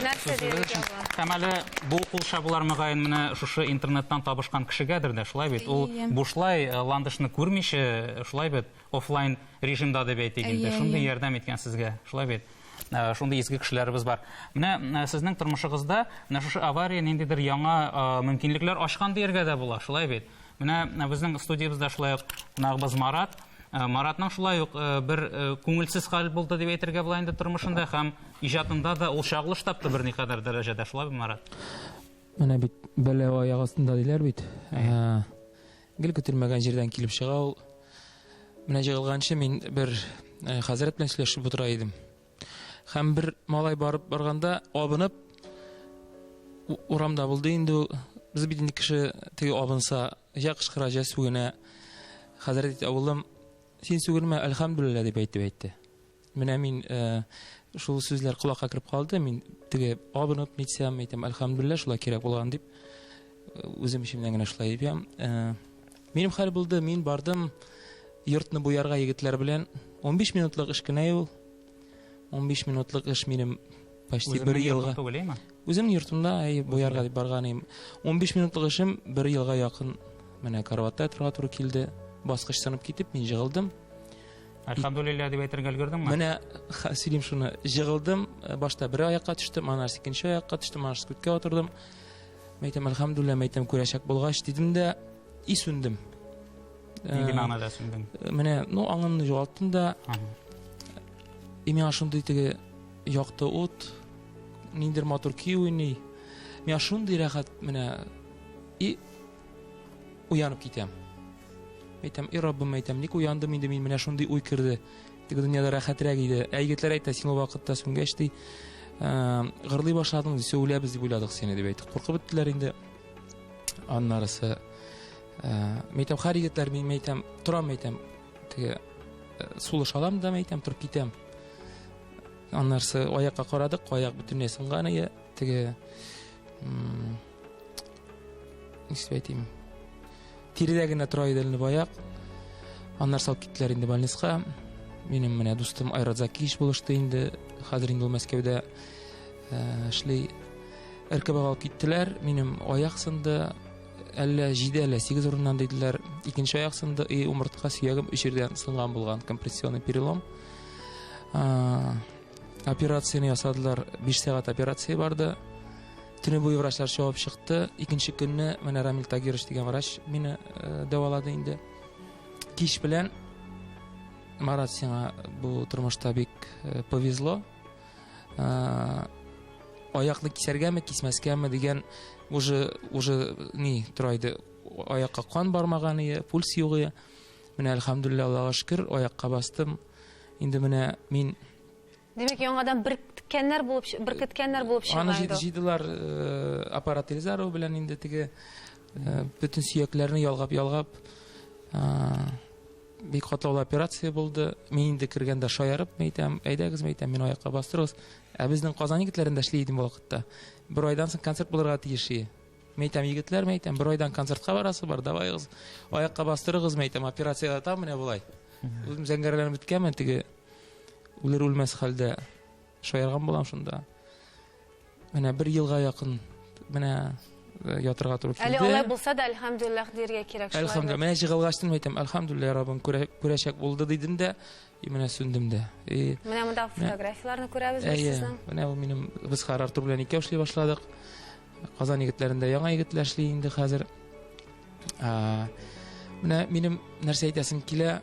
Нәрсә дигән Һәм әле бу кул чабулар мөгаен менә шушы интернеттан табышкан кешегәдер дә, шулай бит. Ул бушлай Ландышны күрмичә, шулай бит. офлайн режимда дип әйтик инде. Әйе, Шундый әйе. ярдәм иткән сезгә. Шулай бит? Ә, Шундый изге кешеләребез бар. Менә ә, сезнең тормышыгызда менә шушы авария ниндидер яңа а, мөмкинлекләр ачкан дияргә дә була. Шулай бит? Менә ә, безнең студиябездә шулай ук кунагыбыз Марат. Ә, Маратның шулай ук ә, бер ә, күңелсез хәл булды дип әйтергә була инде тормышында һәм иҗатында да ул чагылыш тапты берникадәр дәрәҗәдә. Шулай бит, Марат? Менә бит бәла аяк астында диләр бит. Ә, Гел көтелмәгән җирдән килеп чыга ул. Менә җыгылганчы мин бер э, хәзрәт белән сөйләшеп утыра идем. Һәм бер малай барып барганда абынып урамда булды инде ул. Без бит инде кеше теге абынса, я кычкыра, я сүгенә. Хәзрәт әйтте, "Авылым, син сүгенмә, әлхәмдүлилләһ" дип әйтеп әйтте. Менә мин шул сүзләр колакка кереп калды. Мин теге абынып нитсәм, әйтәм, альхамдулилла, шулай кирәк булган дип үзем эчемнән генә шулай әйтәм. Минем хәл булды, мин бардым йортны буярга егетләр белән. 15 минутлык эш кенә ул. 15 минутлык эш минем почти бер елга. Үзем йортымда әй буярга дип барган идем. 15 минутлык эшем бер елга якын менә карватта торга туры килде. Баскыч сынып китеп, мин җыгылдым. Альхамдулилля дип әйтергә өлгердеңме? Менә сөйлим шуны. Җыгылдым, э, башта бер аякка төштем, аннан икенче аякка төштем, аннан күткә утырдым. Мәйтәм альхамдулилля, мәйтәм күрәчәк булгач дидем дә и сүндем. Нинди э, мәгънәдә сүндең? Э, менә, ну, аңымны югалттым да. И миңа шундый теге якты ут, ниндер матур көй уйный. Миңа шундый рәхәт менә и уянып китәм. Әйтәм, и Раббым, әйтәм, ник уяндым инде мин, менә шундый уй керде. Теге дөньяда рәхәтрәк иде. Ә егетләр әйтә, син ул вакытта сүнгәч ди, ә, гырлый башладың, ди, сөйләбез дип уйладык сине дип әйтте. Куркып беттеләр инде. Аннарысы ә, мәйтәм, хәр егетләр мин мәйтәм, торам мәйтәм. Теге э, сулыш алам да мәйтәм, торып китәм. Аннарысы аякка карадык, аяк бөтенләй сынган ие. Теге ничек әйтим тиридә генә тора иде әле баяк аннар салып киттеләр инде больницка минем менә дустым айрат закиевич булышты инде хәзер инде ул мәскәүдә э, эшли ркбга алып киттеләр минем аяк сынды әллә җиде әллә сигез урыннан диделәр икенче аяк сынды и умыртка сөягем өч жердән сынган булган компрессионный перелом операцияне ясадылар биш сәгать операция барды Төне буе врачлар чавып чыкты. Икенче көнне менә Рамил Тагирович дигән врач мине э, дәвалады инде. Кич белән Марат сиңа бу тормышта бик э, повезло. Э, аякны кисәргәме, кисмәскәме дигән уже уже ни тора иде. Аякка кан бармаган иде, пульс юк иде. Менә альхамдулилла Аллага шөкер, аякка бастым. Инде менә мин Димәк, яңадан беркеткәннәр булып, беркеткәннәр булып чыга Аны инде. җыйдылар э, аппарат Эльзарова белән инде теге э, бөтен сөякләрне ялгап-ялгап э, бик катлаулы операция булды. Мин инде кергәндә шаярып әйтәм, әйдәгез, әйтәм, мин аякка бастырыгыз. Ә безнең Казан егетләрендә эшли идем вакытта. Бер айдан соң концерт булырга тиеш иде. Мин әйтәм, егетләр, мин әйтәм, бер айдан концертка барасы бар, давайгыз, аякка бастырыгыз, мин әйтәм, операция ятам, менә болай. Үзем зәңгәрләнеп беткәнмен, теге үлер үлмәс хәлдә шаярган булам шунда. Менә бер елга якын менә э, ятырга туры килде. Әле алай булса да, әлхәмдүлилләх диергә кирәк. Әлхәмдүлилләх. Менә җыгылгачтын әйтәм, әлхәмдүлилләх, Раббым күрәчәк булды дидем дә, и менә сүндем дә. И Менә монда фотографияләрне күрәбез без сезнең. Менә бу минем без Харар Тур белән икәү эшли башладык. Казан егетләрендә яңа егетләр эшли инде хәзер. Менә минем нәрсә әйтәсем килә,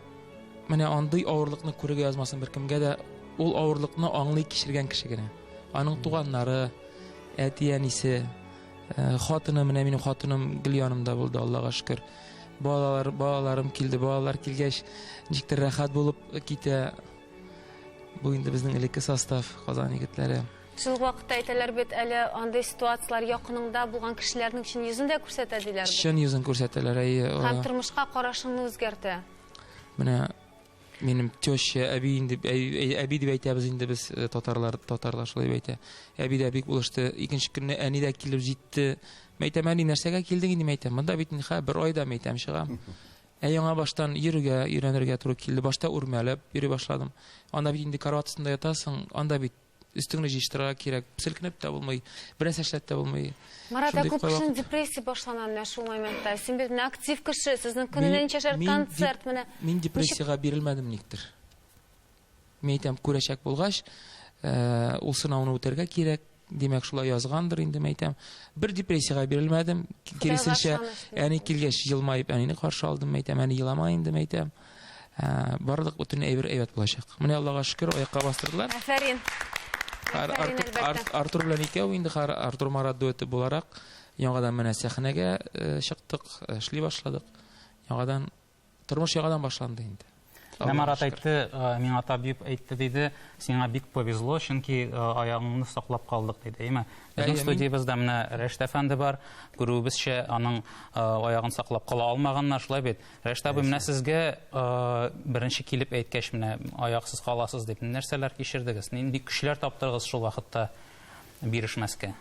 менә андый авырлыкны күрергә язмасын беркемгә дә. Ул авырлыкны аңлый кичергән кеше генә. Аның туганнары, әти әнисе, э, хатыны, менә минем хатыным гел янымда булды, Аллага шөкер. Балалар, балаларым килде, балалар килгәч, ничектер рәхәт булып китә. Бу инде безнең элекке состав, Казан егетләре. Шул ук вакытта әйтәләр бит әле, андый ситуацияләр якыныңда булган кешеләрнең чын йөзен дә күрсәтә, диләр бит. Чын йөзен күрсәтәләр, әйе. Һәм тормышка карашыңны үзгәртә. Менә минем теща, әби инде, әби дип әйтәбез инде без э, татарлар, татарлар шулай әйтә. Әби дә бик булышты. Икенче көнне әни дә килеп җитте. Мәйтәм, әни, нәрсәгә килдең инде, мәйтәм? Монда бит ха, бер айда мәйтәм чыгам. Ә яңа баштан йөрергә, өйрәнергә туры килде. Башта үрмәләп йөри башладым. Анда бит инде карват астында ятасың, анда бит өстеңне җыештырырга кирәк. Селкенеп тә булмый, бераз нәрсә дә булмый. Марат, ә күп кешенең депрессия башлана менә шул моментта. Син бит актив кеше, сезнең көненә ничә шәр концерт менә. Мин депрессиягә бирелмәдем никтер. Мин әйтәм, күрәчәк булгач, э, ул сынауны үтәргә кирәк. Димәк, шулай язгандыр инде, мин әйтәм. Бер депрессиягә бирелмәдем. Киресенчә, әни килгәч елмаеп әнине каршы алдым, мин әйтәм, әни елама инде, мин әйтәм. барлык бөтен әйбер әйбәт булачак. Менә Аллага шөкер, аякка бастырдылар. Афәрин. Артур белән икәү инде Артур Марат дуэты буларак яңадан менә сәхнәгә э, чыктык, э, эшли башладык. Яңадан тормыш яңадан башланды инде. Менә Марат әйтте, э, миңа табиб әйтте диде, сиңа бик повезло, чөнки аягыңны саклап калдык диде, әйме? Безнең студиябездә менә Рәшт әфәнде бар, күрүебезчә, аның аягын саклап кала алмаганнар, шулай бит? Рәшт абый, менә сезгә беренче килеп әйткәч, менә аяксыз каласыз дип, нәрсәләр кичердегез? Нинди көчләр таптырыгыз шул вакытта бирешмәскә?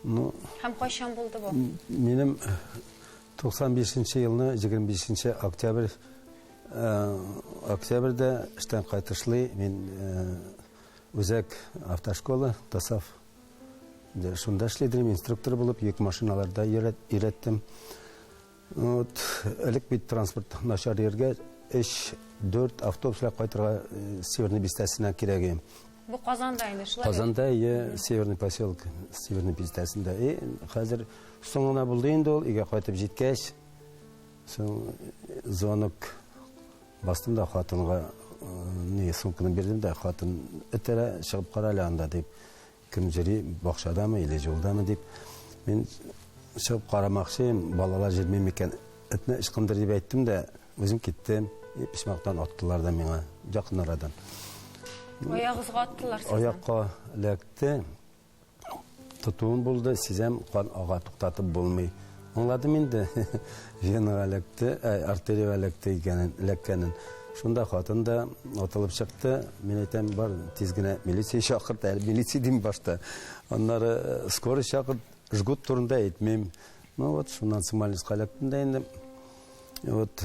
Ну, Һәм кайчан булды бу? Минем 95 нче елны 25 нче октябрь октябрьдә эштән кайтышлый мин үзәк автошкола Тасав шунда эшли инструктор булып, йөк машиналарда өйрәттем. Вот, элек бит транспорт начар йөргә, 3-4 автобуслар кайтырга Северный бистәсенә кирәге. Бу Казанда инде шулай. Казанда я Северный поселок, Северный бистәсендә. И хәзер соңына булды инде ул, игә кайтып җиткәч, соң звонок бастым да хатынга не сумканы бирдем дә хатын этерә чыгып кара әле анда дип Кем җыри, бакчадамы или җулдамы дип. Мин чыгып карамакчыйм, балалар җырмый микән, этне ычкындыр дип әйттем дә, үзем киттем. И, писмактан аттылар да миңа, якын арадан. Аягызга аттылар сезне? Аякка эләкте. Тотуым булды, сизәм, кан ага, туктатып булмый. Аңладым инде, венага эләкте, артериягә эләкте икәнен, эләккәнен. Шунда хатын да атылып чыкты. Мин әйтәм, бар, тиз генә милиция чакырт, әле милиция дим башта. Аннары э, скорый чакырт, жгут турында әйтмим. Ну вот, шуннан Смоленскка эләктем дә инде. Вот,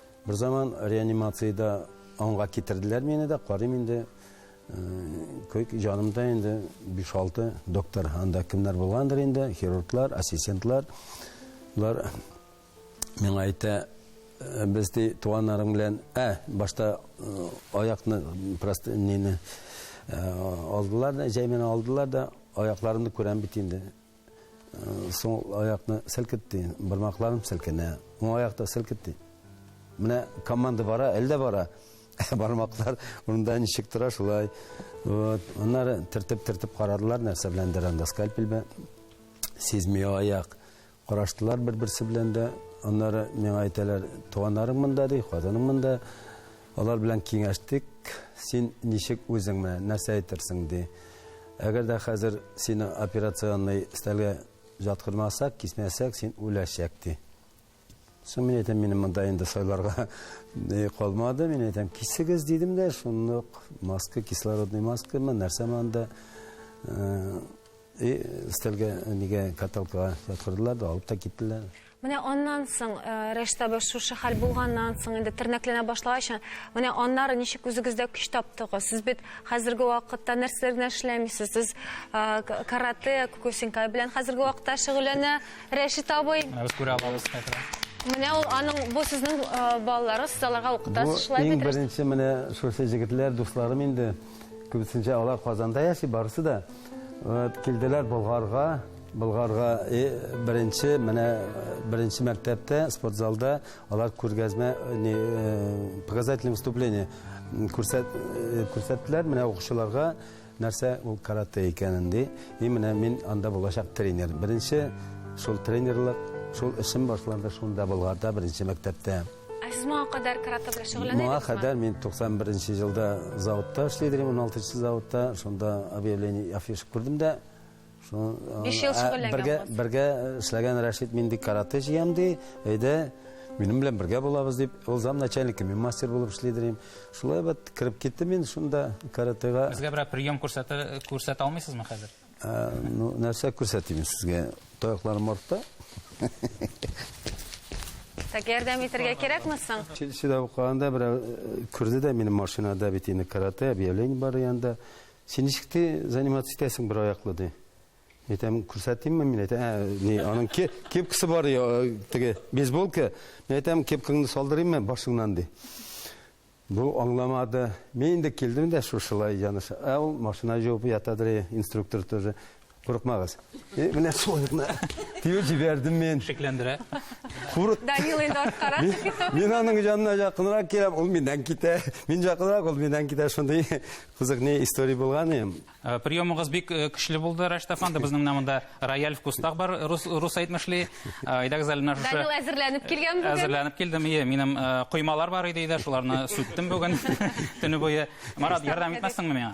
Бер заман реанимациядә аңга китерделәр мине дә, карыйм инде, көк җанымда инде 5-6 доктор анда кемнәр булгандыр инде, хирурглар, ассистентлар. Булар миңа әйтә, «Э, без ди туганнарым белән, ә, башта э, аякны просто нене э, алдылар да, җәймен алдылар да, аякларымны күрәм бит инде. Соң аякны селкетте, бармакларым селкенә. Уң аякта селкетте. Менә команда бара, әлдә бара. Бармаклар урында ничек тора шулай. Вот, аннары тертеп-тертеп карадылар, нәрсә белән дәрәндә скальпель бе. Сизми аяк. Караштылар бер-берсе белән дә. Аннары миңа әйтәләр, туганнарың монда ди, хатының монда. Алар белән киңәштек, син ничек үзең менә нәрсә әйтерсең ди. Әгәр дә хәзер сине операционный стәлгә жаткырмасак, кисмәсәк, син үләчәк ди. Соң мин әйтәм, минем монда инде сайларга калмады. Мин әйтәм, кисегез дидем дә, шунлык маска, кислородный маска, мен нәрсә монда э, и стәлгә нигә каталкага жаткырдылар да алып та киттеләр. Менә аннан соң, Рәш табы шушы хәл булганнан соң, инде тернәкләнә башлагач, менә аннары ничек үзегездә көч таптыгыз? Сез бит хәзерге вакытта нәрсәләр генә эшләмисез? Сез карате, кукусинкай белән хәзерге вакытта шөгыльләнә Рәшит абый. Без күрә алабыз хәзер. Менә ул аның бу сезнең балалары, сез аларга укытасыз, шулай бит? Бу иң беренче менә шушы җегетләр, дусларым инде. Күбесенчә алар Казанда яши, барысы да. Вот, килделәр Болгарга. Болгарга и беренче менә беренче мәктәптә спортзалда алар күргәзмә не э, показательное выступление күрсәт э, күрсәттеләр менә укучыларга нәрсә ул каратэ икәнен ди и менә мин анда булачак тренер беренче шул тренерлык шул эшем башланды шунда болгарда беренче мәктәптә Ә сез моңа кадәр каратэ белән шөгыльләнә Моңа идегезме? кадәр мин 91 елда заводта эшли идем, 16 заводта, шунда объявление афиш күрдем дә, Биш ел шөгыльләнгән. Бергә бергә эшләгән Рәшит мин бик каратэ җыям ди. Әйдә, минем белән бергә булабыз дип, ул зам начальнигы, мин мастер булып эшли дим. Шулай бит кирип китте мин шунда каратэга. Безгә бер прием күрсәтә күрсәтә алмыйсызмы хәзер? Ну, нәрсә күрсәтим сезгә? Таякларым артта. Так ярдәм итәргә кирәкме соң? Чилчидә укыганда берәү күрде дә минем машинада бит инде каратэ, объявление бар янда. Син ничек ти заниматься итәсең бер аяклы, ди. Әйтәм, күрсәтимме мин? Әйтә, ә, ни, аның ке, кепкасы бар, ди, теге, бейсболка. Мин әйтәм, кепкаңны салдырыйммы башыңнан, ди. Бу аңламады. Мин инде килдем дә шушылай яныш. Ә ул машина җуып ятадыр, инструктор тоже. Курыкмагыз. Э, менә шулай гына тиеп җибәрдем мин. Шикләндерә. Курык. Данил инде арткара чыгыйсы. Мин аның янына якынрак киләм, ул миннән китә. Мин якынрак, ул миннән китә. Шундый кызык не история булган иде. Э, приемыгыз бик э, көчле булды, Рәш Тафан. Безнең менә монда рояль вкустаг бар, рус, рус әйтмешли. Әйдәгез әле менә шушы. Данил әзерләнеп килгән бүген. Әзерләнеп килдем. Ие, минем коймалар бар иде, шуларны сүттем бүген төне буе. Марат, ярдәм итмәссеңме миңа?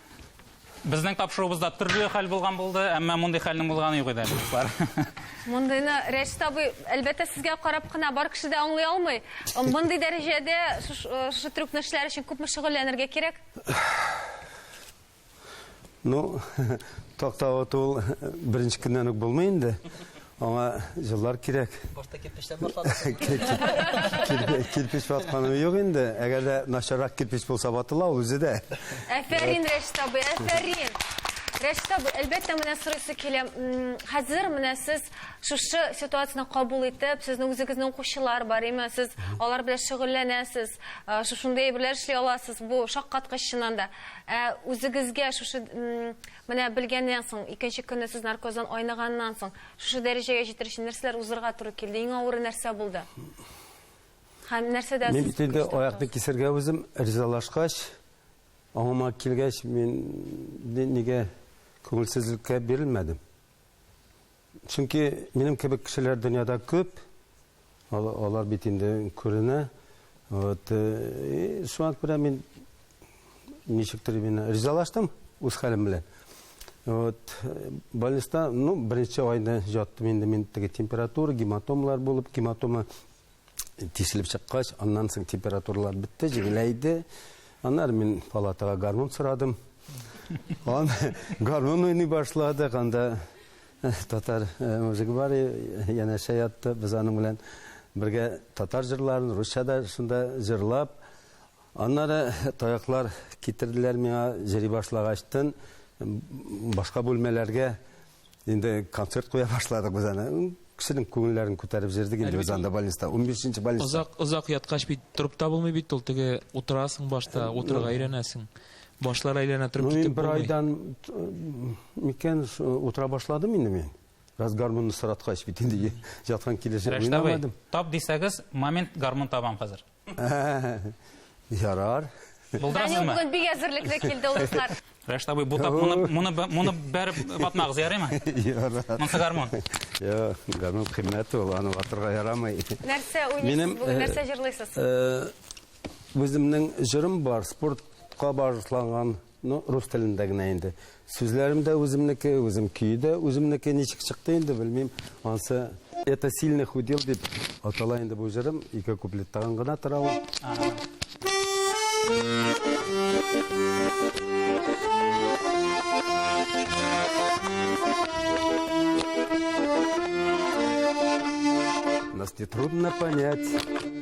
Безнең тапшыруыбызда төрле хәл булган булды, әмма мондый хәлнең булганы юк иде, дуслар. Мондыйны Рәшит абый, әлбәттә, сезгә карап кына бар кеше дә аңлый алмый. Мондый дәрәҗәдә шушы трюкны эшләр өчен күпме шөгыльләнергә кирәк? Ну, такта ату беренче көннән үк булмый инде. Аңа җыллар кирәк. Башта кирпечтән башладык. Кирпеч ватканы юк инде. Әгәр дә начаррак кирпеч булса ватыла ул үзе дә. Әфәрин, Рәшит абый, әфәрин. Рәшит абый, әлбәттә, менә сорыйсы килә. Хәзер менә сез шушы ситуацияне кабул итеп, сезнең үзегезнең укучылар бар, әйме? Сез алар белән шөгыльләнәсез, шушындый әйберләр эшли аласыз. Бу шаккаткыч чыннан да. Ә үзегезгә шушы Менә белгәннән соң, икенче көнне сез наркоздан айныганнан соң, шушы дәрәҗәгә җитер өчен нәрсәләр узырга туры килде? Иң авыры нәрсә булды? Һәм нәрсәдә Мин бит инде аякны кисергә үзем ризалашкач, аңыма килгәч, мин нигә күңелсезлеккә бирелмәдем. Чөнки минем кебек кешеләр дөньяда күп. Алар бит инде күренә. Вот. Э, Шуңа күрә мин ничектер именно ризалаштым үз хәлем белән. Вот. Э, больниста, ну, беренче айны жаттым инде мин теге температура, гематомалар булып, гематома тишелеп чыккач, аннан соң температуралар бетте, җиңеләйде. Аннары мин палатага гармон сорадым. Он гармон уйный башлады, анда э, татар э, мужигы бар, янәшә ятты, без аның белән бергә татар җырларын, русча да шунда җырлап. Аннары таяклар китерделәр миңа, җыри башлагачтын башка бүлмәләргә Инде концерт куя башладык без аны. Кешенең күңелләрен күтәреп җырдык инде без анда больниста. 15 больниста. Озак озак яткач бит торып та булмый бит ул. Теге утырасың башта, утырырга өйрәнәсең. Башлар әйләнә торып китеп булмый. Бер айдан микән утыра башладым инде мин. Раз гармонны сораткач бит инде яткан килеш уйнамадым. Тап дисәгез, момент гармон табам хәзер. Ярар. Данил бүген бик әзерлекле килде ул кызлар. Рәшт абый, бу тап моны моны моны бәреп батмагыз, ярыймы? Ярар. Монсы гармон. Йо, гармон кыйммәт ул, аны ватырга ярамый. Нәрсә уйныйсыз бүген, нәрсә җырлыйсыз? Үземнең җырым бар, спортка багышланган. Ну, рус телендә генә инде. Сүзләрем дә үземнеке, үзем көе дә үземнеке. Ничек чыкты инде, белмим. Ансы Это сильный худел дип атала инде бу җырым. Ике куплеттаган гына тора ул. Нас не трудно понять.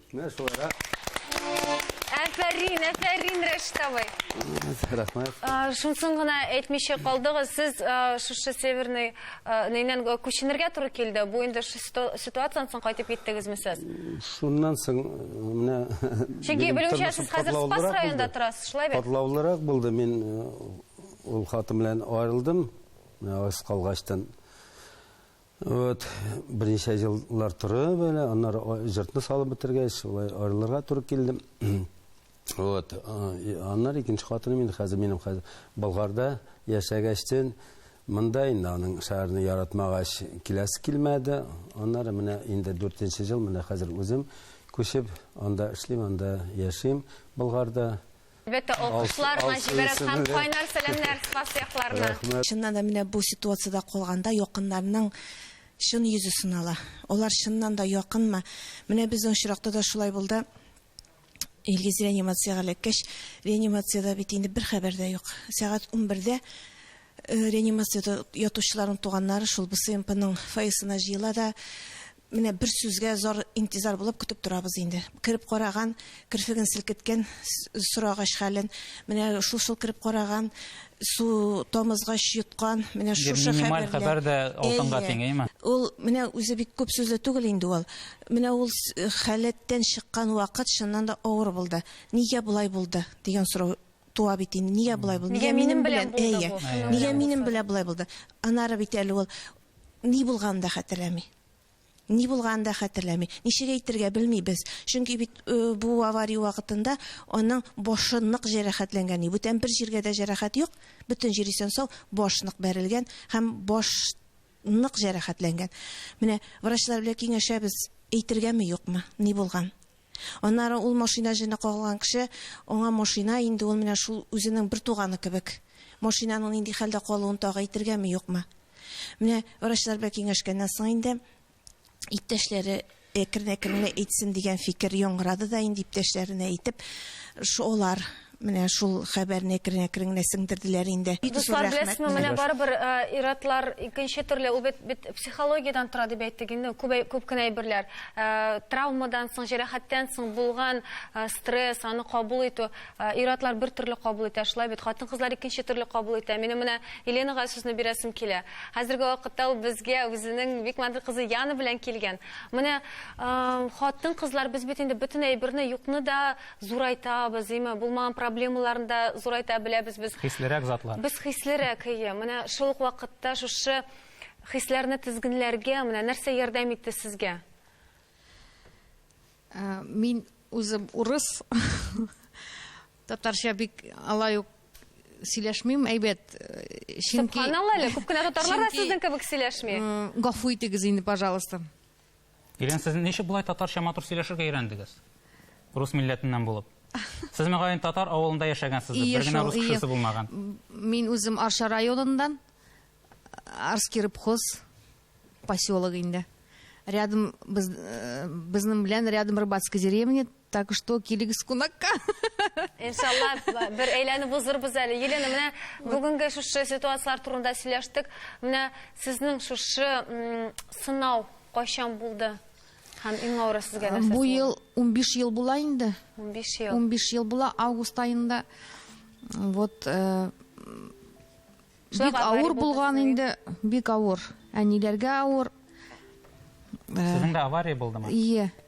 Менә шулайрак. Әфәрин, әфәрин, Рәшит абый. Рәхмәт. Э, Шунсын гына әйтмичә калдыгыз, сез э, шушы Северный э, нейнен э, күченергә туры килде. Бу инде шу ситу- ситуацияннан соң кайтып киттегезме сез? Шуннан соң э, менә Чөнки минем белүемчә, тормышым сез хәзер Спас катлаулырак районында булды. торасыз, шулай бит? Катлаулырак булды. Мин э, ул хатын белән аерылдым. Менә аз калгачтан Вот, берничә еллар торып, әле, аннары җыртны салып бетергәч, шулай аерылырга туры килде. Вот, аннары икенче хатыным инде хәзер минем хәзер Болгарда яшәгәчтен, монда инде аның шәһәрне яратмагач, киләсе килмәде. Аннары менә инде дүртенче ел, менә хәзер үзем күчеп, анда эшлим, анда яшим, Болгарда. Әлбәттә, алкышлар, Наҗибә Рәсхам, кайнар сәламнәр, Спас якларына. Чыннан да, менә бу ситуациядә калганда якыннарның чын йөзе сынала. Алар чыннан да якынмы? Менә безнең очракта да шулай булды. Илгиз реанимациягә эләккәч, реанимациядә бит инде бер хәбәр дә юк. Сәгать унбердә Реанимациядә ятучыларның туганнары шул БСМПның фойесына җыела да, Менә бер сүзгә зар интизар булып көтеп торабыз инде. Кереп караган, керфеген селкеткән, сорагач хәлен, менә шул-шул кереп караган, су тамызгач йоткан, менә шушы хәбәрләр. Минималь хәбәр дә алтынга тиң, әйеме? Ул менә үзе бик күп сүзле түгел инде ул. Менә ул халәттән чыккан вакыт чыннан да авыр булды. Нигә болай булды дигән сорау Туа бит инде, нигә болай булды? Нигә минем белән булды бу? Әйе. Нигә минем белән болай булды? Анары бит әле ул ни булганын да хәтерләми. Ни булганын да хәтерләми. Ничек әйтергә белмибез. Чөнки бит э, бу авария вакытында аның башы нык җәрәхәтләнгән. И, Бүтән бер җиргә дә җәрәхәт юк. Бөтен җир исән сау, баш нык бәрелгән һәм баш нык җәрәхәтләнгән. Менә врачлар белән киңәшәбез, әйтергәме юкмы, ни булган? Аннары ул машина җене кагылган кеше, аңа машина инде ул менә шул үзенең бер туганы кебек. Машинаның нинди хәлдә калуын тагы әйтергәме, юкмы? Менә врачлар белән киңәшкәннән соң инде иптәшләре әкрен-әкрен генә әйтсен дигән фикер яңгырады да инде иптәшләренә әйтеп, шулар Менә шул хәбәрне әкрен-әкрен генә сеңдерделәр инде. Дуслар, беләсезме, менә барыбер ир-атлар икенче төрле, ул бит бит психологиядән тора дип әйттек инде, күп күп кенә әйберләр. Травмадан соң, җәрәхәттән соң булган стресс, аны кабул итү, ир-атлар бер төрле кабул итә, шулай бит? Хатын-кызлар икенче төрле кабул итә. Минем менә Еленага сүзне бирәсем килә. Хәзерге вакытта ул безгә үзенең бик матур кызы Яна белән килгән. Менә хатын-кызлар, без бит инде бөтен әйберне, юкны да зурайтабыз, әйме, булмаган проблемаларны да зурайта беләбез без. Хислерәк затлар. Без хислерәк, әйе. Менә шул ук вакытта шушы хисләрне тезгенләргә менә нәрсә ярдәм итте сезгә? Э, мин үзем урыс. Татарча бик алай ук сөйләшмим, әйбәт. Э, чөнки Субханалла әле, күп кенә татарлар да сезнең кебек сөйләшми. Гафу итегез инде, пожалуйста. Ирен, сез ничек болай татарча матур сөйләшергә өйрәндегез? Рус милләтеннән булып. Сез мөгаен татар авылында яшәгәнсез, бер генә рус кешесе булмаган. Мин үзем Арча районыннан, Арский рыбхоз поселогы инде. Рядом без, э, безнең белән рядом рыбацкая деревня, Так что килегез кунакка. Иншалла бер әйләнеп узырбыз әле. Елена, менә бүгенге шушы ситуацияләр турында сөйләштек. Менә сезнең шушы сынау кайчан булды? Һәм иң авыры сезгә нәрсә? Бу ел 15 ел була инде. 15 ел. 15 ел була август айында. Вот э, бик авыр булган инде, бик авыр. Әниләргә авыр. Э, Сезнең дә авария булдымы? Ие.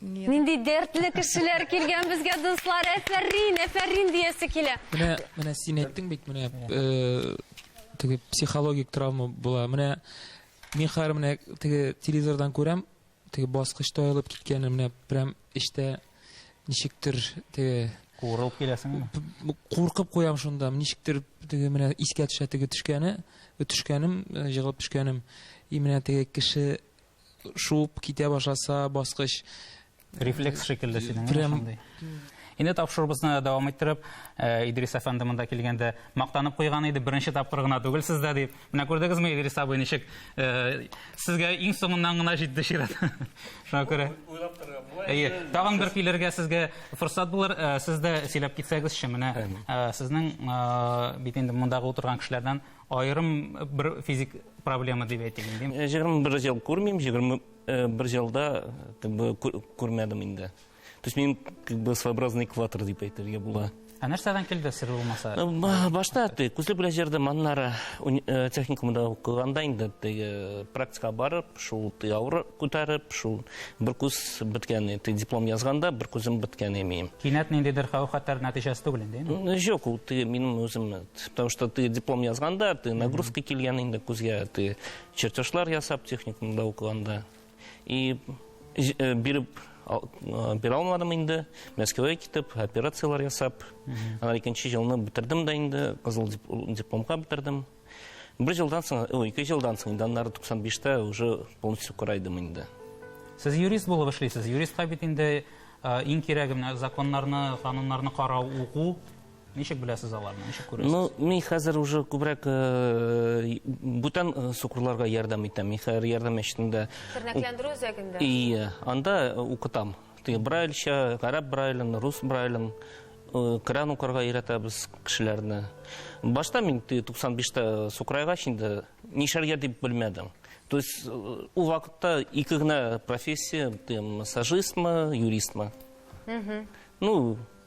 Нинди дәртле кешеләр килгән безгә дуслар. Әфәрин, әфәрин диясе килә. Менә, менә син әйттең бит, менә э, теге психологик травма була. Менә мин хәзер менә теге телевизордан күрәм, теге баскычта аелып киткәнен, менә прям эчтә ничектер теге Курылып киләсеңме? Куркып куям шунда, ничектер теге менә искә төшә теге төшкәне, төшкәнем, э, җыгылып төшкәнем. И менә теге кеше шуып китә башласа баскыч рефлекс шикелле синең прям Инде тапшырыбызны дәвам иттереп, э, Идрис әфәнде монда килгәндә мактанып куйган иде, беренче тапкыр гына түгел сездә дип. Менә күрдегезме, Идрис абый, ничек э, сезгә иң соңыннан гына җитте чират. Шуңа күрә. Уйлап торган. Әйе, тагын бер килергә сезгә форсат булыр. Э, Сез дә сөйләп китсәгезче, менә сезнең бит инде мондагы утырган кешеләрдән Аерым бер физик проблема дип әйтик инде. 21 э, ел күрмим, 21 э, елда как бы күрмәдем инде. То есть мин как бы своеобразный экватор дип әйтергә була. Ә нәрсәдән килде сер булмаса? Э, башта ты күзле белән җырдым, аннары техникумда укыганда инде теге практика барып, шул ты авыр күтәреп, шул бер күз беткән, ты диплом язганда бер күзем беткән имеем. Кинәт ниндидер хәү-хәтәр нәтиҗәсе түгел инде. Юк, ул минем үзем потому что ты диплом язганда ты нагрузка килгән инде күзгә ты чертежлар ясап техникумда укыганда и э, биреп э, бирә алмадым инде мәскәүгә китеп операциялар ясап анан икенче жылны бетердем да инде кызыл дипломга бетердем бер жылдан соң ой ике жылдан соң инде аннары туксан биштә уже полностью карайдым инде сез юрист булып эшлисез юристка бит инде э, иң кирәге менә законнарны кануннарны карау уку Ничек беләсез аларны? Ничек күрәсез? Ну, мин хәзер уже күбрәк э, бүтән э, сукырларга ярдәм итәм. Мин хәзер ярдәм мәчетендә. Тернәкләндерү үзәгендә. Ие, анда э, укытам. Тие брайльча, гарәп брайлен, рус брайлен, э, кран укырга өйрәтәбез кешеләрне. Башта мин тие 95-тә сукрайга инде нишәргә дип белмәдем. То есть э, ул вакытта ике генә профессия, тие массажистмы, юристмы. Ну,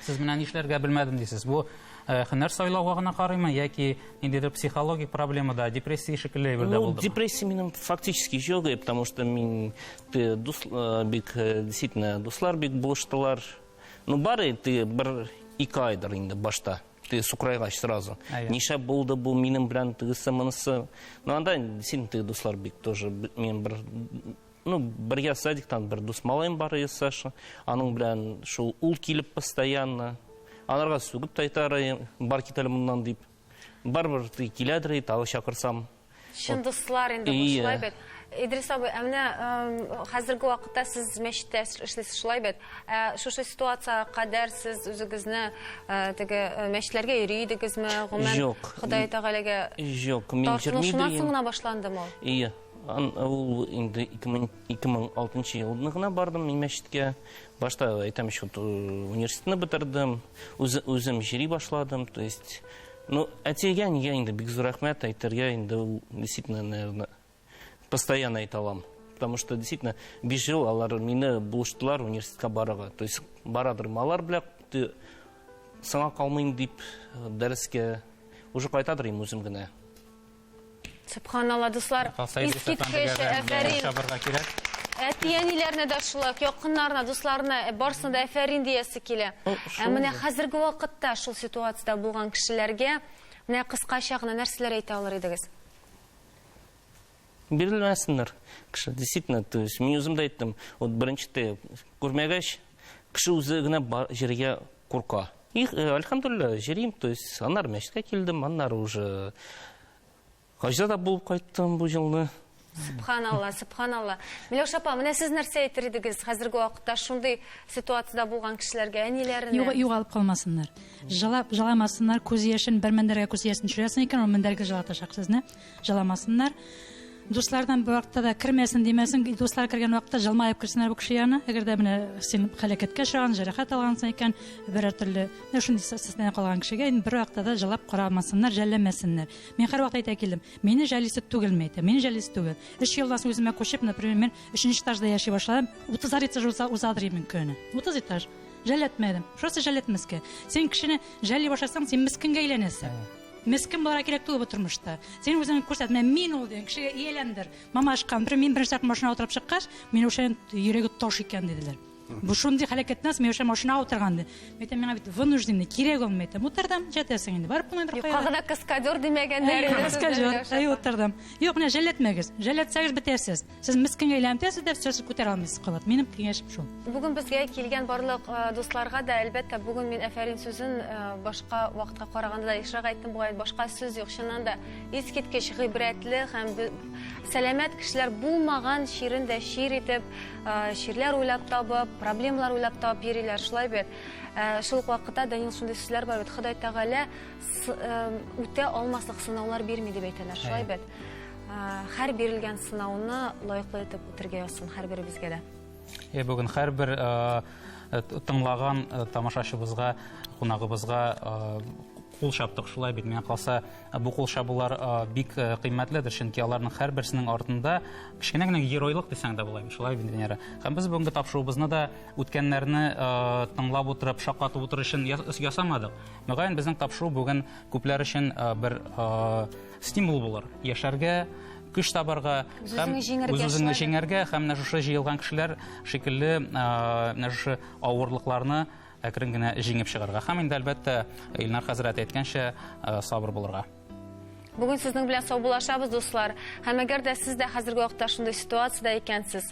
Сез менә нишләргә белмәдем дисез. Бу э, һөнәр сайлауга гына карыймы яки ниндидер психологик проблемада, депрессия шикелле әйбердә Ну, булдымы? депрессия минем фактически жоқ, и потому что мин ты дус, э, бик э, действительно дуслар бик булыштылар. Ну, бары ты бер ике айдыр инде башта. Ты сукрайгач сразу. Әйе. Ниша булды бу минем белән тегесе монысы. Ну, анда действительно ты дуслар бик тоже б- минем бер Ну, бергә садиктан бер дус малаем бар иде Саша. Аның белән шул ул килеп постоянно. Анарга сүгеп тайтарай, бар кит әле моннан дип. Барбер киләдер, тагы чакырсам. Чын дуслар инде бу шулай бит. Идрис абый, ә менә хәзерге вакытта сез мәчеттә эшлисез шулай бит. Ә шушы ситуацияга кадәр сез үзегезне теге мәчетләргә йөри идегезме? Гомумән, Ходай Тәгаләгә Юк, мин йөрмидем. Тартынушыннан соң гына башландымы? Ие. Ул инде 2006 елны гына бардым мин мәчеткә. Башта әйтәм шул э, университетны бетердем, үзем җыри башладым, то есть ну әтигә нигә инде бик зур рәхмәт әйтергә инде ул действительно наверное постоянно әйтә алам. Потому что действительно 5 ел алар мине булыштылар университетка барырга. То есть барадыр малар белән ты саңа калмыйм дип э, дәрескә уже кайтадыр им үзем генә. Субханалла, дуслар, искиткеч, әфәрин. Әти-әниләрне дә шулай, якыннарына, дусларына, э, барсына да әфәрин диясе килә. Ә менә хәзерге вакытта шул ситуациядә булган кешеләргә менә кыскача гына нәрсәләр әйтә алыр идегез? Бирелмәсеннәр. Кеше действительно, то есть мин үзем дә әйттем, вот беренче күрмәгәч, кеше үзе генә җиргә курка. И, э, альхамдулилла, җөрим, то есть, аннары мәчеткә килдем, аннары уже хаҗда да булып кайттым бу елны. Субханалла, субханалла. Миләүшә апа, менә сез нәрсә әйтер идегез хәзерге вакытта шундый ситуациядә булган кешеләргә, әниләренә? Юга- Югалып калмасыннар. Җылап, җыламасыннар, күз яшен, бер мендәргә күз яшен төшерәсең икән, ул мендәргә җылатачак сезне. Җыламасыннар. Дуслардан бу вакытта да кермәсен димәсен, дуслар кергән вакытта җылмаеп керсеннәр бу кеше янына. Әгәр дә менә син хәләкәткә очраган, җәрәхәт алгансың икән, берәр төрле, менә шундый состояние калган кешегә инде бер вакытта да җылап карамасыннар, жәлләмәсеннәр. Мин һәрвакыт әйтә килдем, мине жәлисе түгелме әйтә, мине жәлисе түгел. Өч елдан соң үземә күчеп, например, мен өченче этажда яши башладым, утызар этаж уза, узадыр мен көне. Утыз этаж. Жәлләтмәдем. Просто жәлләтмәскә. Син кешене жәлли башласаң, син мескенгә әйләнәсең. Мескен бала кирәк түгел бу тормышта. Син үзең күрсәт, менә мин ул дигән кешегә ияләндер. Мама ашкан, бер мин беренче тапкыр машина утырып чыккач, Миләүшәнең йөрәге таш икән диделәр. Бу шундый хәләкәттән соң Миләүшә машина утырган ди. Мәйтәм, миңа бит вынужден, кирәк ул, мәйтәм. Утырдым, җәтәсең инде. Барып булмый бер кая. Юкка гына каскадер димәгәннәр. Каскадер, әй утырдым. Юк, менә җәлләтмәгез. Җәлләтсәгез бетәсез. Сез мискин әйләнтәсез дә сез күтәрә алмыйсыз кабат. Минем киңәшем шул. Бүген безгә килгән барлык э, дусларга да әлбәттә бүген мин әфәрин сүзен э, башка вакытка караганда да ешрак әйттем бугай башка сүз юк чыннан да искиткеч гыйбрәтле һәм сәламәт кешеләр булмаган чирен дә чир итеп э, чирләр уйлап табып проблемалар уйлап табып йөриләр шулай бит шул ук вакытта Данил шундый сүзләр бар бит Ходай Тәгалә үтә алмаслык сынаулар бирми дип әйтәләр шулай бит Хәр бирелгән сынауны лайыклы итеп үтергә язсын һәрберебезгә дә. Е, бүген һәрбер тыңлаган тамашачыбызга, кунагыбызга кул чаптык шулай бит миңа калса бу кул чабулар бик кыйммәтледер чөнки аларның һәрберсенең артында кечкенә генә геройлык дисәң дә була шулай бит венера һәм без бүгенге тапшыруыбызны да үткәннәрне тыңлап утырып шаккатып утыру өчен ясамадык мөгаен безнең тапшыру бүген күпләр өчен бер стимул булыр, яшәргә, көч табарга һәм үз-үзеңне җиңәргә һәм менә шушы җыелган кешеләр шикелле менә шушы авырлыкларны әкрен генә җиңеп чыгарга һәм инде әлбәттә Илнар хәзрәт әйткәнчә сабыр булырга. Бүген сезнең белән саубуллашабыз, дуслар. Һәм әгәр дә сез дә хәзерге вакытта шундый ситуациядә икәнсез,